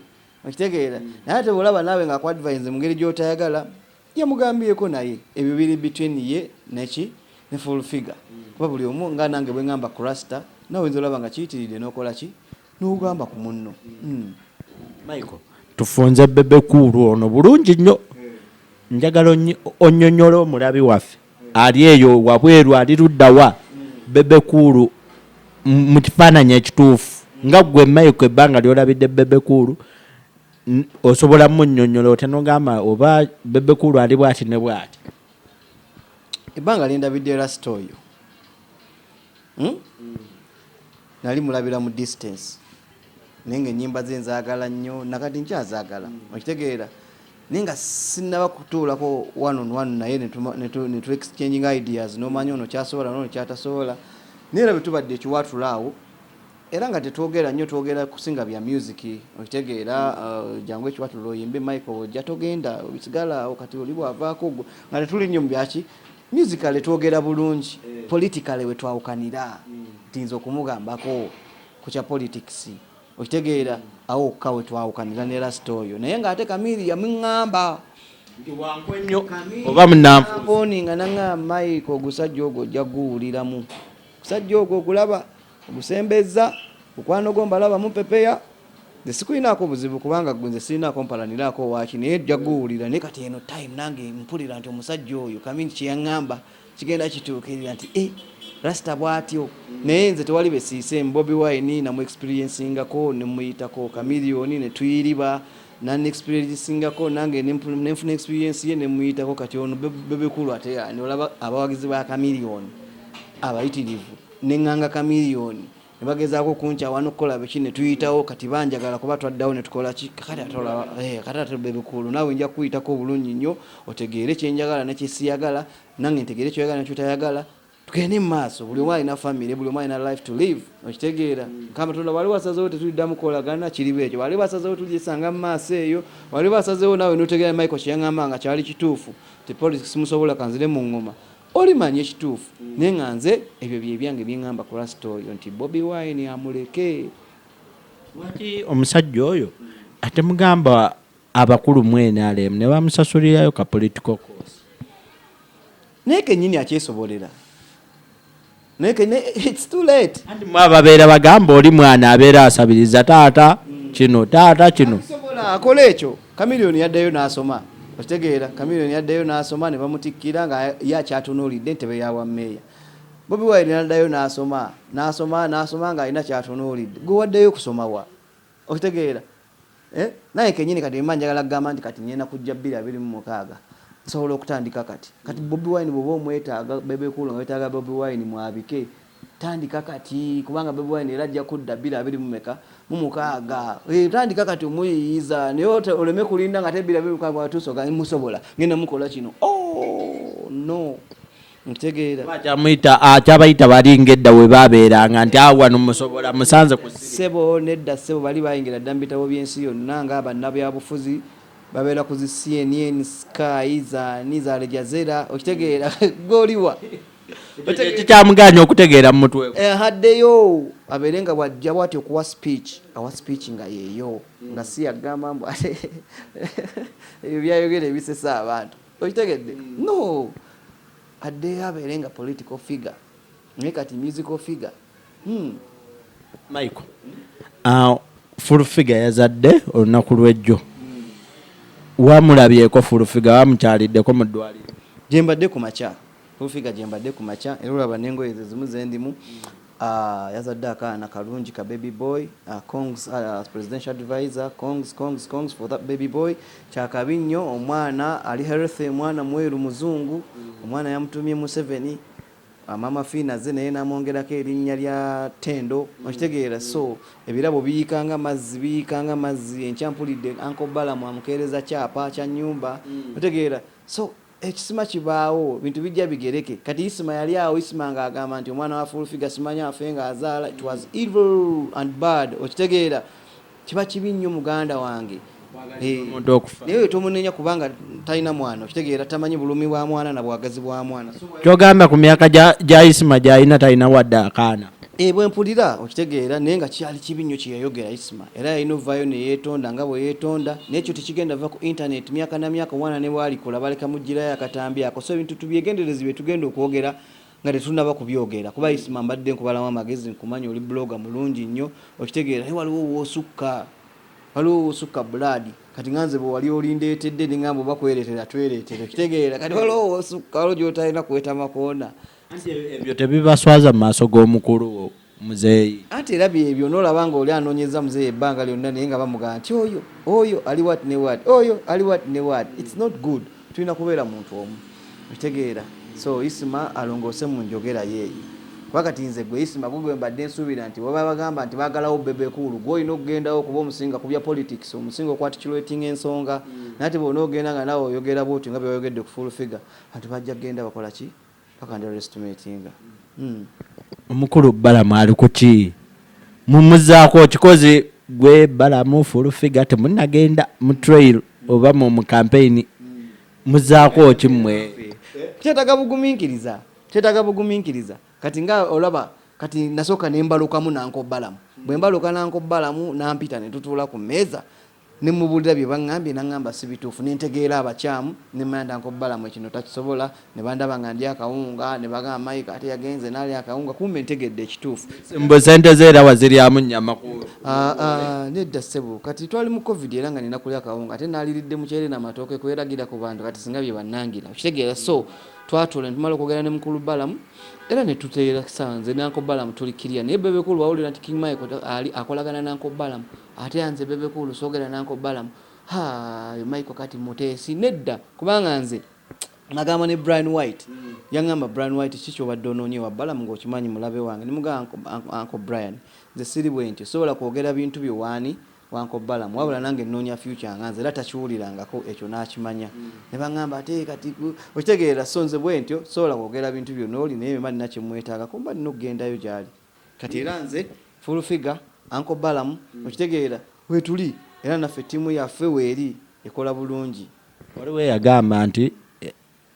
okitegeera naye ate bwolaba naawe nga akuadvise mu ngeri gyotayagala yamugambyeko naye ebyo biri between ye neki ne full figure kuba buli omu nga nange bwengamba kurasta nawe oyinza olaba nga kiyitiridde nokola ki nogamba ku munno mm. michael tufunze bebe kuulu ono bulungi nnyo njagala onyonyola omulabi waffe ali eyo wabweru ali luddawa bebe kuulu mu kifaananyi ekituufu nga gwe maiko ebbanga lyolabidde bebe kuulu osobola munyonyola otya nogamba oba bebe kuulu ali bwati ne bwati ebbanga lyendabidde rasita oyo hmm? nali mulabira mu distance naye nga enyimba ze nzagala nnyo nakati nkyazagala hmm. okitegeera naye nga sinaba kutuulako one on one naye netu exchanging ideas nomanya ono kyasobola nono kyatasobola naye era bwetubadde ekiwatula awo era nga tetwogera nnyo twogera kusinga bya music okitegeera uh, jangu ekiwatula oyimbe michael ojja togenda obisigala awo kati oli bwavaako nga tetuli nnyo mu byaki Musically twogera bulungi, politically wetwawukanira nti nze okumugambako ku kya politics okitegeera awo wokka wetwawukanira ne lasita oyo naye nga ate Kamiiri yamuŋŋamba oba munamponinga naŋa Mike ogusajja ogwo ojja guwuliramu ogusajja ogwo ogulaba Ogusembezza mukwano gwo mbalaba mumpepeya nze sikulinaako buzibu kubanga gwe nze sirinaako mpalaniraako waaki naye ojja guwulira naye kati eno time nange mpulira nti omusajja oyo kamingi kye yaŋŋamba kigenda kituukirira nti e rasita bw'atyo naye nze tewali be siise mbobi wine namu experiensingako ne muyitako kamiliyoni ne tuyiriba nani experiensingako nange ne nfuna experiensi ye ne muyitako kati ono bebekulu ate ani olaba abawagizi ba kamiliyoni abayitirivu ne ŋŋanga Chameleone ne bagezaako okunkyawa n'okukola biki ne tuyitawo kati banjagala kuba twaddawo ne tukola ki kakati ate olaba eh, kati ate bebikuulu naawe nja kukuyitako obulungi nnyo otegeere kye njagala ne kye siyagala nange ntegeere kyoyagala ne kyotayagala tugende mu maaso buli omu alina famire buli omu alina life to live okitegeera mukama tonda wali wasazewo tetuliddamu kolagana kiriba ekyo wali wasazewo tulisanga mu maaso eyo wali wasazewo naawe notegeera michael kyeyaŋamba nga kyali kituufu tepolisi simusobola kanzire mu ngoma Oli manyi ekituufu naye nga nze ebyo byebyange byengamba ku last oyo nti Bobi Wine amuleke. Lwaki omusajja oyo atemugamba abakulu mu NRM nebamusasulirayo ka political course. Naye kenyini akyesobolera. anti mwe ababeera bagamba oli mwana abeera asabiriza taata kino taata kino akola ekyo kamiliyoni yaddayo n'asoma okitegeera kamiliyoni yaddayo n'asoma ne bamutikkira nga ye akyatunuulidde entebe ya bwammeeya bobi wine naddayo n'asoma n'asoma n'asoma ng'alina kyatunuulidde gwe waddeyo okusoma wa okitegeera Eh naye kenyini kati emba njagala gamba nti kati ngenda kujja bbiri abiri mu mukaaga nsobola okutandika kati kati bobi wine bwoba omwetaaga bebe cool nga wetaaga bobi wine mwabike tandika kati kubanga bobi wine era ajja kudda bbiri abiri mu meka mu mukaaga eh, tandika kati omuyiyiza naye oleme kulinda nga te bbiri abiri mu mukaaga watuusa oga musobola ngenda mukola kino oh no kyabayita bali ngedda we babeeranga nti awo wano musobola musanze ku ssebo nedda ssebo bali bayingira dda mu bitabo by'ensi yonna nga bannabyabufuzi babeera ku zi cnn sky zani za lejazera okitegeera goliwa kikyamuganya okutegeera mu mutwe eh, haddeyo abeere nga bwajja bwati okuwa speech awa speech nga yeeyo nga si yagamba mbu ebyo byayogera ebisesa abantu okitegedde no addeyo abeere nga political figure naye kati musical figure hmm. michael uh, full figure yazadde olunaku lwejjo hmm. wamulabyeko full figure wamukyaliddeko mu ddwaliro gyembadde ku makya full figure gyembadde ku makya era olaba nengoye zezimu zendimu Aah yazadde akaana kalungi ka baby boy congs as presidential adviser congs congs congs for that baby boy kyakabi nnyo omwana ali healthy mwana mweru muzungu omwana yamutumye museveni maama fiina azze naye namwongerako erinnya lya tendo okitegeera so ebirabo biyiika nga mazzi biyiika nga mazzi enkya mpulidde uncle balamu amukeereza kyapa kya nyumba otegeera so Ekisima kibaawo, bintu bijja bigereke. Kati Isma yali awo, Isma nga agamba nti omwana wa Full Figure simanyi afe nga azaala, it was evil and bad. Okitegeera? Kiba kibi nnyo muganda wange. Hee. Naye oyo tomunenya kubanga talina mwana, okitegeera? Tamanyi bulumi bwa mwana na bwagazi bwa mwana. So why. Kyogamba ku myaka gya Isma gyalina talina wadde akaana? E, bwe mpulira okitegeera naye nga kyali kibi nnyo kye yayogera isma era yalina ovaayo ne yeetonda nga bwe yeetonda naye ekyo tekigenda va ku intaneeti myaka na myaka omwana ne bw'alikula baleka muggyirayo akatambi ako so ebintu tubyegendereze bye tugenda okwogera nga tetunnaba kubyogera kuba isma mbadde nkubalamu amagezi nkumanyi oli blogga mulungi nnyo okitegeera naye waliwo woosukka waliwo woosukka bulaadi kati nga nze bwe wali olindeetedde ne ngamba oba kwereetera twereetere okitegeera kati waliwo woosukka waliwo gy'otalina kuweta makoona anti ebyo tebibaswaza mu maaso g'omukulu wo muzeeyi anti era byebyo nolaba nga oli anoonyeza muzeeyi ebbanga lyonna naye nga bamugamba nti oyo oyo ali wat ne wat oyo ali wat ne wat its not good tulina kubeera muntu omu okitegeera so isima alongoose mu njogera yeeyo kuba kati nze gwe isima gwe gwe mbadde nsuubira nti waba bagamba nti baagalawo bebekuulu gwe olina okugendawo kuba omusinga ku bya politics omusinga okwatikiretinga ensonga mm. nate bona ogenda nga nawe oyogera bwotyo nga byewayogedde ku full figure bantu bajja kugenda bakola ki Omukulu Balamu ali kuki mumuzaako kikozi gwe Balamu full figure temunagenda mu trail oba mu mu campaign muzaako ki mwe kyetaga buguminkiriza kyetaga buguminkiriza kati nga olaba kati nasoka nembalukamu nanko Balamu bwembaluka nanko Balamu nampita netutuula ku meeza Ne mmubuulira bye baŋŋambye n'aŋŋamba si bituufu ne ntegeera abakyamu ne mmanya dda Uncle Balaam ekino takisobola ne bandaba nga ndya akawunga ne bagamba Mayiga ate yagenze n'alya akawunga kumbe ntegedde ekituufu. Mbu ssente ze era waziryamu nnyama ku olwo? Aa nedda ssebo kati twali mu Covid era nga nnina kulya kawunga ate nnaaliridde muceere na matooke kweragirira ku bantu kati singa bye bannangira okitegeera so twatuula ne tumala okwogera ne Mukulu Balaam era ne tuteera ssaawa nze ne Uncle Balaam tuli kiriya naye Bebe Cool wawulira nti King Mayiga ali akolagana ne Uncle Balaam Ate a nze bebe cool sogera na uncle Balam haa oyo Michael kati muteesi nedda kubanga nze nagamba ne Brian White yangamba Brian White kiki kyobadde ononye ewa Balam nga okimanyi mulabe wange nemugamba uncle Brian nze siri bwentyo sisobola kwogera bintu byo waani wa uncle Balam wabula nange nonya future nga nze era takiwulirangako ekyo nakimanya nebangamba ate kati okitegeera so nze bwentyo sisobola kwogera bintu byo noli naye mba nina kyemwetagako mba nina okugendayo gyali. Kati era nze, Full Figure, Uncle Balaam, okitegeera, weetuli era naffe ttiimu yaffe weeri ekola bulungi. Waliwo eyagamba nti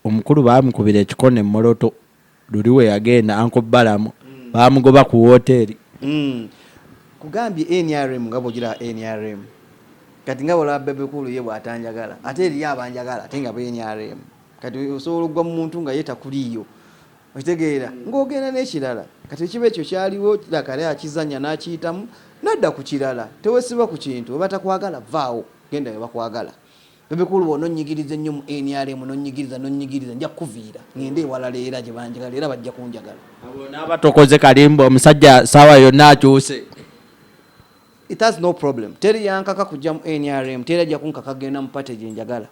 omukulu baamukubira ekikono e Moroto, luli we yagenda Uncle Balaam baamugoba ku wooteeri. Nkugambye nrm nga bw'ogiraba nrm, kati nga bw'olaba Bebe Cool ye bw'atanjagala ate eriyo abanjagala ate nga be nrm. Kati osobola okugwa mu muntu nga ye takuliiyo. okitegeera ng'ogenda n'ekirala kati ekiba ekyo kyaliwo lakale akizanya n'akiyitamu nadda ku kirala tewesiba ku kintu webatakwagala vaawo genda webakwagala bebikulu bona onyigiriza ennyo mu nrm nonyigiriza nonyigiriza nja kukuviira ngende ewalala era gye banjagala era bajja kunjagala naaba tokoze kalimba omusajja saawa yonna akyuse it has no problem teri yankaka kujja mu nrm teri ajja kunkaka kugenda mu pate gye njagala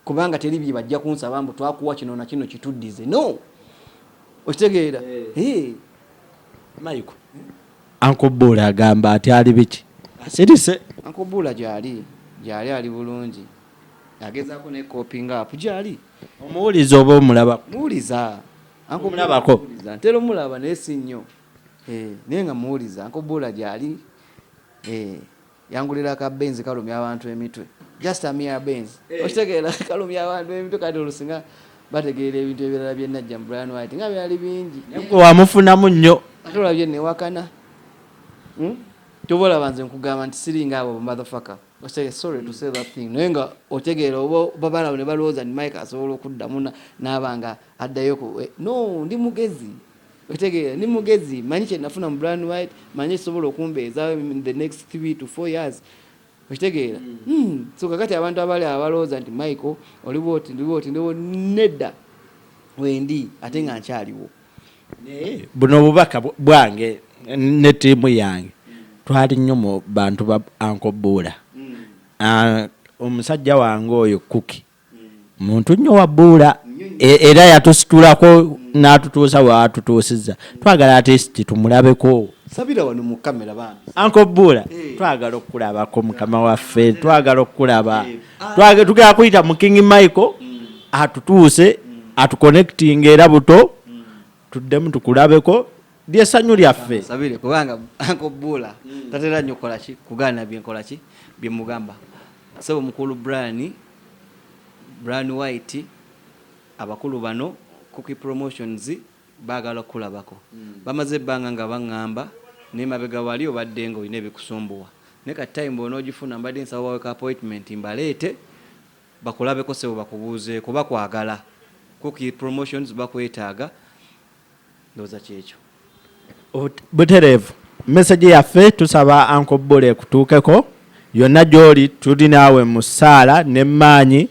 kubanga teri bye bajja kunsaba mbu twakuwa kino na kino kituddize no okitegeera eh. mayiko anko buula agamba ati ali biki asirise anko buula gyali gyali ali bulungi agezaako ne kopinga apu gyali omuwuliza oba omulabako muwuliza anko mulabako ntera omulaba naye si nnyo eh, naye nga muwuliza anko buula gyali eh. Yangulira ka benz kalumya abantu emitwe just a mere benz okitegeera kalumya abantu emitwe kati olusi nga bategeera ebintu ebirala bye najja mu Brian White nga byali bingi nabwe wamufunamu nnyo ate olabye newakana hmm? kyoba olaba nze nkugamba nti siringa abo motherfucker osage sorry to say that thing naye nga otegeera oba babalawo ne balowooza nti mike asobola okuddamu n'aba nga addayo ku eh, no ndi mugezi Otegeera, ndi mugezi, manyi kye nafuna mu Bryan White, manyi ekisobola okumbeezaawo in the next three to four years. Okitegeera? Hmm. hmm. So kakati abantu abali abalowooza nti Michael oli bwoti ndi bwoti ndewo nedda wendi ate nga nkyaliwo. Naye buno obubaka bwange ne ttiimu yange twali nnyo mu bantu ba Anko Buula. Hmm. Ah, omusajja wange oyo Kuki muntu nnyo wabuula e, era yatusitulako n'atutuusa waatutuusizza twagala atesti tumulabeko sabira wano mu kamera bambi anko buula eh. twagala okukulabako mukama waffe twagala okukulaba eh. ah. tugera kuyita mu king michael mm. atutuuse mm. atuconnectinga era buto tuddemu tukulabeko lyesanyu lyaffe sabire kubanga anko bula mm. tatera nyo kola ki kugana bye nkola ki bye mugamba sebo mukulu Brian Brian White abakulu bano cookie promotions bagala kulabako mm. bamaze banga nga bangamba ne mabega wali obadde ngo ine bikusumbuwa ne ka time bono ogifuna mbadde nsawa wa appointment mbalete Bakulabeko sebo bakubuuzeeko bakwagala kuq promotions bakwetaaga ndowooza kyekyo. Butereevu message yaffe tusaba Uncle Bbule ekutuukeko yonna gyoli tuli naawe mu ssaala ne mmaanyi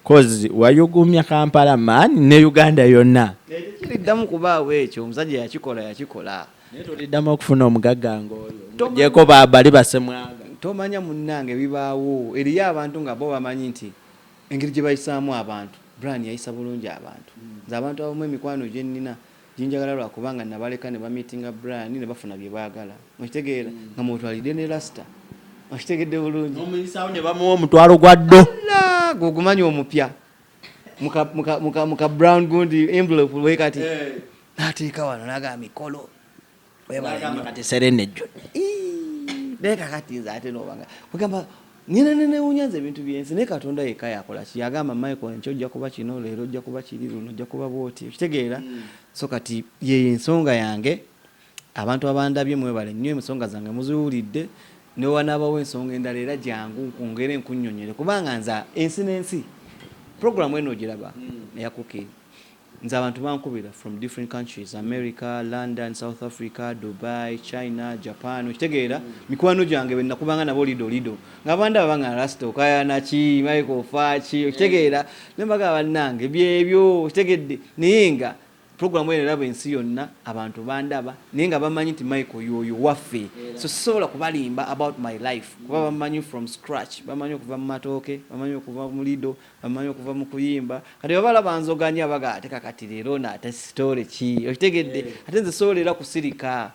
coz wayuguumya Kampala man ne Uganda yonna. Naye tekiriddamu kubaawo ekyo omusajja yakikola yakikola. naye toliddamu okufuna omugagga ng'oyo gyeko bali basemwaga tomanya munnange bibaawo eriyo abantu nga bo bamanyi nti engeri gye bayisaamu abantu brian yayisa bulungi abantu hmm. nze abantu abamu emikwano gye nnina ginjagala lwa kubanga nabaleka ne bamitinga brian ne bafuna bye baagala okitegeera hmm. nga mwotwalidde ne lasita okitegedde bulungi omuyisawo ne bamuwa omutwalo gwa ddo gwe ogumanyi omupya muka muka muka muka brown gundi envelope we kati eh. nateeka wano naga mikolo kati serene jjo naye kakati nze ate nobanga ogamba nina nenewunya nze ebintu byensi naye katonda yekka yakola ki yagamba michael enkyo ojja kuba kino leero ojja kuba kiri luno ojja kuba bwoti okitegeera hmm. so kati yeyo ensonga yange Abantu abandabye mwebale nnyo ensonga zange muziwulidde newewanaabawo ensonga endala era jangu nkwongere nkunyonyole kubanga nze ensi n'ensi program eno ogiraba hmm. eya cooki nze abantu bankubira from different countries america london south africa dubai china japan okitegeera hmm. mikwano gyange benakubanga nabo lido lido nga banda babanga rasta okayanaki maiko ofaaki okitegeera hmm. nembaga bannange byebyo okitegedde naye nga Program eno eraba ensi yonna abantu bandaba naye nga bamanyi nti Michael yoyo waffe so sisobola kubalimba about my life kuba bamanyi from scratch bamanyi okuva mu matooke bamanyi okuva mu lido bamanyi okuva mu kuyimba kati babala banzoganya baga ate kakati leero no ate story ki okitegedde ate nze sobola era kusirika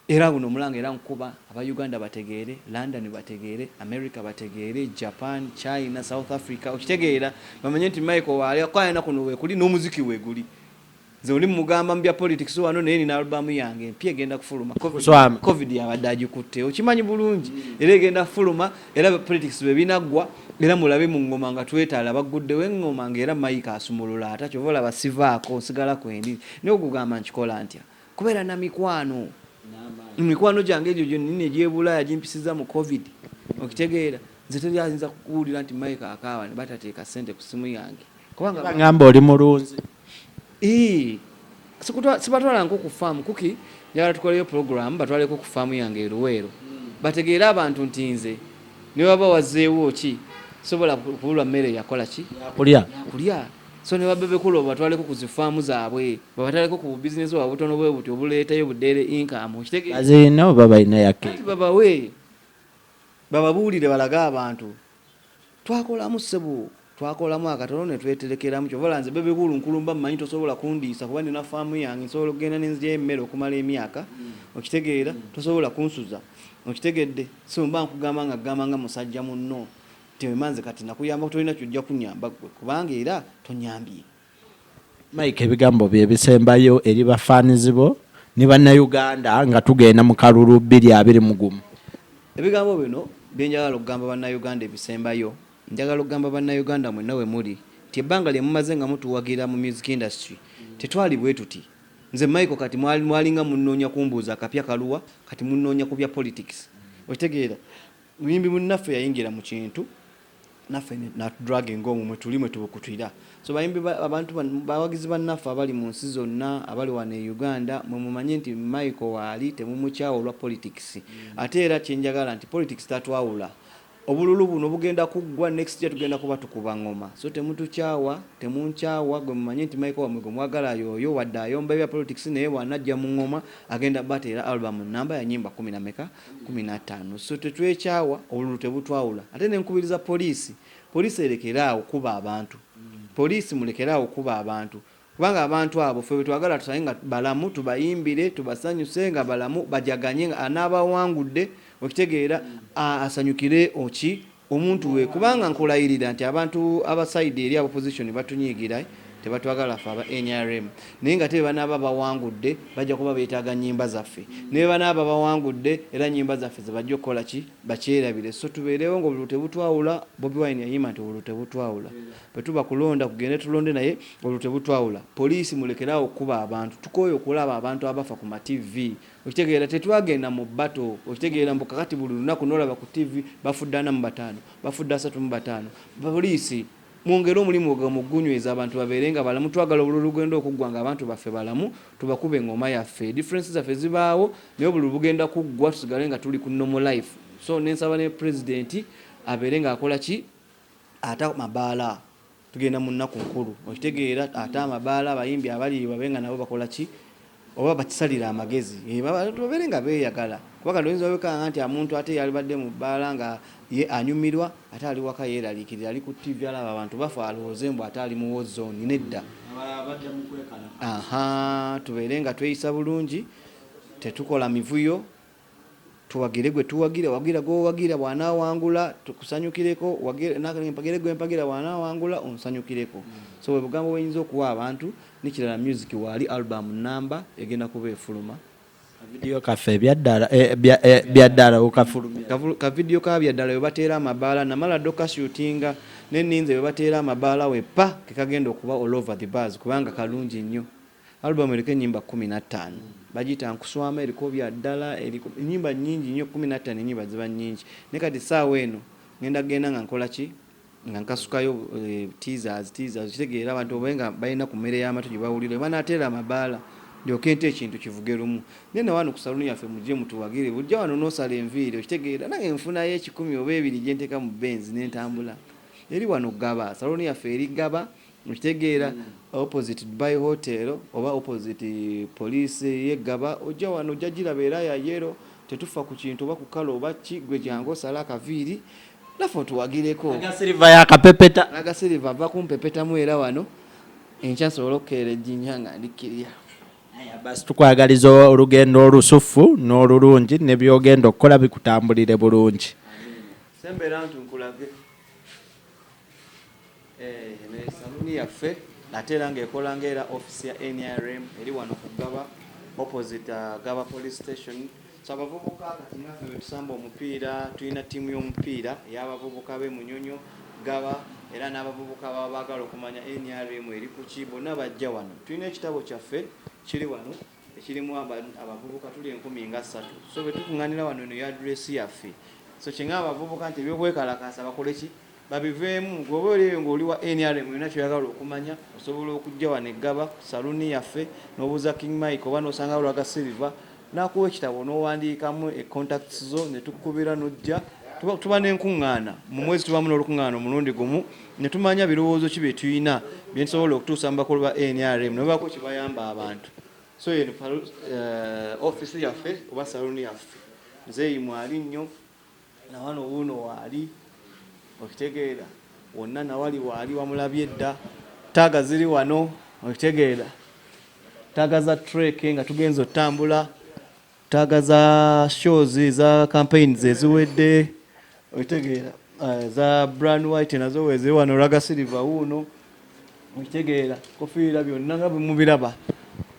Era guno omulanga era nkuba aba Uganda bategeere, London bategeere, America bategeere, Japan, China, South Africa okitegeera bamanye nti Michael waali akukayana kuno wekuli n'omuziki weguli. Nze oli mugamba mu bya politics wano naye nina album yange empya egenda kufuluma. Covid, COVID yabadde agikutte okimanyi bulungi era egenda kufuluma era politics bwe binaggwa era mulabe mu ngoma nga twetaala bagguddewo engoma nga era Michael asumulula ata kyova olaba sivaako nsigala kwendi naye okugamba nkikola ntya? Kubeera na mikwano. Mikwano gyange egyo gyonnini egy'ebulaaya gimpisizza mu Covid. Okitegeera? Nze teri ayinza kukuwulira nti Mike akaaba ne batateeka ssente ku ssimu yange. Kubanga. Bagamba oli mulunzi. Ii. Sibatwala nko ku faamu kuki njagala tukoleyo pulogulaamu batwaleko ku faamu yange e Luweero. Hmm. Bategeere abantu nti nze ne waba wazzeewo ki sobola kubulwa mmere yakola ki? Yakulya. Yakulya. So ne ba Bebe Cool babatwaleko ku zi farm zabwe, babataleko ku bu business bwabwe obutono bwebuti obuleetayo bu daily income okitegeera. Bazirina oba balina ya cake? Anti babawe bababuulire balage abantu twakolamu ssebo twakolamu akatono ne tweterekeramu kyova olaba nze Bebe Cool nkulumba mmanyi tosobola kundiisa kuba nina farm yange nsobola okugenda ne nzigyayo emmere okumala emyaka okitegeera tosobola kunsuza okitegedde so mba nkugamba nga kugamba nga musajja munno. Temema nze kati nakuyambako tolina kyojja kunyamba gwe kubanga era tonyambye. Mike ebigambo byo ebisembayo eri ba fans bo ne bannayuganda nga tugenda mu kalulu bbiri abiri mu gumu. Ebigambo bino bye njagala okugamba bannayuganda ebisembayo njagala okugamba bannayuganda mwenna we muli nti ebbanga lye mumaze nga mutuwagira mu music industry tetwali bwe tuti nze Michael kati mwalinga munnoonya kumbuuza akapya kaluwa kati munnoonya ku bya politics okitegeera Muyimbi munnaffe yayingira mu kintu naffe natudraginga omwo mwe tuli mwe tubukutira. So bayimbi abantu bawagizi bannaffe abali mu nsi zonna abali wano e Uganda mwe mumanye nti Michael waali temumukyawa olwa politics mm. ate era kye njagala nti politics tatwawula obululu buno bugenda kuggwa next year tugenda kuba tukuba ngoma so temutukyawa temunkyawa gwe mumanye nti Michael wamwe gwe mwagala yooyo wadde ayomba ebya politics naye bwanajja mu ngoma agenda bateera album namba ya nyimba kumi na meka kumi na ttaano so tetwekyawa obululu tebutwawula ate nenkubiriza poliisi poliisi erekere awo kuba abantu poliisi mulekere awo kuba abantu kubanga abantu abo fe betwagala tusaye nga balamu tubayimbire tubasanyuse nga balamu bajaganye nga anaaba awangudde okitegeera asanyukire oki omuntu we kubanga nkulayirira nti abantu aba side eri abopposition batunyiigira tebatwagala ffe aba nrm naye ngate bebanaaba bawangudde bajja kuba betaaga nyimba zaffe nebebanaaba bawangudde era nyimba zaffe zebajja okukola ki bakyerabire so tubeerewo nga obululu tebutwawula Bobi Wine yayimba nti obululu tebutwawula bwetuba kulonda kugende tulonde naye obululu tebutwawula police mulekere awo okukuba abantu tukooye okulaba abantu abafa ku ma TV Okitegeera tetwagenda mu battle okitegeera mbu kakati buli lunaku nolaba ku TV bafudde ana mu bataano bafudde asatu mu bataano police mwongere omulimu ogwo mu gunyweza abantu babeere nga balamu twagala obululu lugenda okuggwa nga abantu baffe balamu tubakube engoma yaffe difference zaffe zibaawo naye obululu bugenda kuggwa tusigale nga tuli ku normal life so nensaba ne president abeere nga akola ki ata mabaala. Tugenda mu nnaku nkulu okitegeera ate amabaala abayimbi abaliyo babe nga nabo bakola ki oba bakisalire amagezi eh, babeere nga beeyagala kuba kati oyinza obekanga nti amuntu ate yalibadde mu bbaala nga ye anyumirwa ate ali waka yeeraliikirira ali ku ttivi alaba abantu bafe alowooze mbu ate ali mu wozoni nedda aha tubeere nga tweyisa bulungi tetukola mivuyo Tuwagire gwe tuwagira, wagira gw'owagira bw'anaawangula tukusanyukireko, mpagire gwe mpagira bw'anaawangula onsanyukireko. So bwe bugambo bwe nyinza okuwa abantu. N'ekirala myuziki waali, album nnamba egenda kuba efuluma. Akavidiyo kaffe Byaddala okafulumya? Kavidiyo ka Byaddala we bateera amabaala namala dda okukashutinga ne nninze we bateera amabaala weppa ke kagenda okuba all over the bars kubanga kalungi nnyo. Album eriko enyimba kumi nattano bajiyita nkuswama eriko byaddala eriko enyimba nyingi nyo kumi nattano enyimba ziba nyingi naye kati saawa eno ngenda kugenda nga nkola ki nga nkasukayo eh, teasers teasers kitegeera abantu obaye nga balina ku mmere y'amatu gye bawulira oba n'ateera amabaala ndyoke nte ekintu kivuge lumu naye na wano ku saluni yaffe mujje mutuwagire bujja wano n'osala enviiri okitegeera nange nfunayo ekikumi oba ebiri gye nteeka mu benzi ne ntambula eri wano gaba saluni yaffe eri gaba Mukitegeera opposite Dubai hotel oba opposite police ye Gaba ojja wano ojja giraba era ya yellow tetuffa ku kintu oba ku kala oba ki gwe jangu osale akaviiri naffe otuwagireko. Aga silver ya kapepeta. Aga silver ava kumpepetamu era wano enkya nsobole okukeera ejjinja nga ndi kirya. Aya basi tukwagaliza olugendo olusuffu n'olulungi ne byogenda okukola bikutambulire bulungi. Sembera ntu nkulage. Eno ye saluuni yaffe ate era ng'ekola nga era office ya NRM eri wano ku Ggaba opposite uh, Ggaba Police Station. So abavubuka kati naffe betusamba omupiira, tulina ttiimu y'omupiira ey'abavubuka b'e Munyonyo, Ggaba era n'abavubuka baba baagala okumanya NRM eri ku ki, bonna bajja wano. Tulina ekitabo kyaffe kiri wano. ekirimu abavubuka tuli enkumi nga ssatu so bwe tukuŋŋanira wano eno yadresi yaffe so kyenga abavubuka nti ebyokwekalakaasa bakole ki babiveemu gweoba oli eyo ng'oli wa nrm olina kyoyagala okumanya osobola okujja wano eggaba ku saluuni yaffe n'obuuza king mike oba n'osanga lwaga silver n'akuwa ekitabo n'owandiikamu econtacts zo ne tukubira n'ojja tuba n'enkuŋŋaana mu mwezi tubamu n'olukuŋŋaana omulundi gumu ne tumanya birowoozo ki bye tulina bye tusobola okutuusa mu bakulu ba nrm ne babaako kye bayamba abantu so eno uh, office yaffe oba saluni yaffe nzeeyi mwali nnyo nawano wuuno waali okitegeera wonna nawali waali wamulabye dda taaga ziri wano okitegeera taaga za treke nga tugenza otutambula Taaga za shows za campaigns eziwedde okitegeera eh, za brand white nazo weze wano raga silver wuuno okitegeera kofiira byonna nga bwemubiraba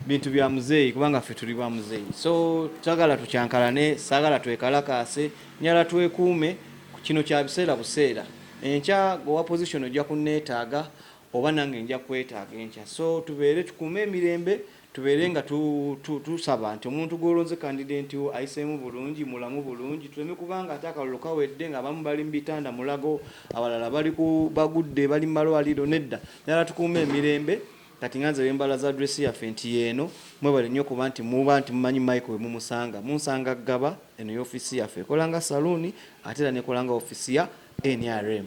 bintu bya muzeeyi kubanga ffe tuli ba muzeeyi so twagala tukyankalane saagala twekalakaase nyala twekuume kino kya biseera buseera enkya owa position ojja kunneetaaga oba nange nja kwetaaga enkya so tubeere tukuume emirembe Tubeere nga tusaba tu, tu, nti omuntu gw'olonze kandidenti wo ayiseemu bulungi, mulamu bulungi, tuleme kubanga ate akalulu kawedde ng'abamu bali mu bitanda mulago, abalala bali ku bagudde bali mu malwaliro. Nedda ddala tukuume emirembe. Kati nga nze wembala za address yaffe nti yeeno, mwebale nnyo kuba nti muba nti mumanyi Michael we mumusanga. Munsanga Ggaba, eno y'ofiisi yaffe. Ekola nga saluuni ate era n'ekola nga ofiisi ya nrm.